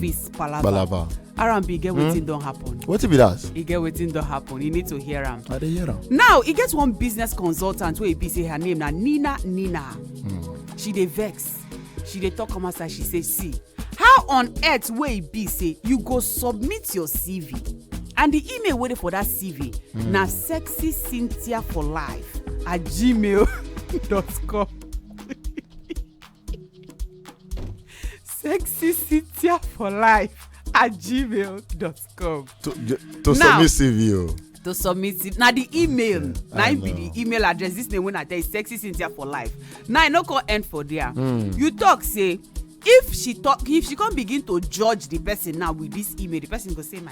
peace palava Balaba. r&b get wetin don happen What if it does? e get wetin don happen you need to hear am I dey hear am. now e get one business consultant wey e be say her name na nina nina she dey vex she dey talk come outside she say see how on earth wey e be say you go submit your cv and the email wey dey for that cv na sexy cynthia for life at gmail dot com sexy cynthia for life at gmail dot com. to ju- to Now- submit cv o. to submit it na the email Yeah, na I im be know. the email address this name wey i tell you sexy cynthia for life now i no come end for there Hmm. you talk say if she talk if she come begin to judge the person now with this email the person go say my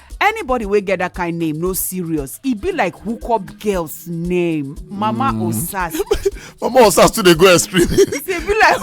anybody wey get that kind name no serious e be like hookup girls name mama mm. osas mama osas too dey go extreme e be like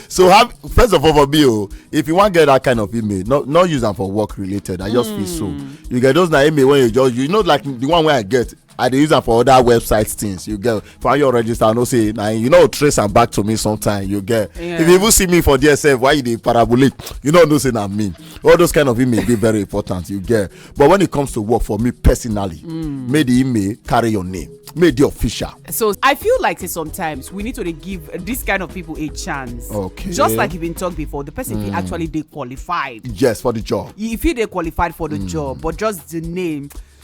so have first of all for me o oh, if you wan get that kind of email no no use am for work related i just feel so mm. you get those na email wey you just you know like the one wey i get i dey use am for other website things you get for your register i know say na you know trace am back to me sometime you get yeah. if you even see me for there sef why you dey parabolate you no know say na me all those kind of email dey very important you get but when it comes to work for me personally mm. make the email carry your name make the official. so i feel like say sometimes we need to dey give this kind of people a chance. okay just like you been talk before the person mm. fit hmm. actually dey qualified. yes for the job. e fit dey qualified for the mm. job but just the name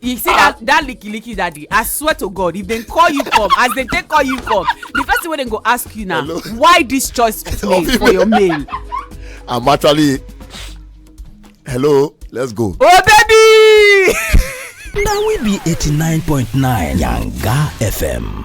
you see that that licky licky daddy i swear to god if dem call you come as dem take call you come the first thing wey dem go ask you na Hello? why this choice of name for your mail. i'm actually hello let's go. oh baby. na we be eighty nine point nine yanga fm.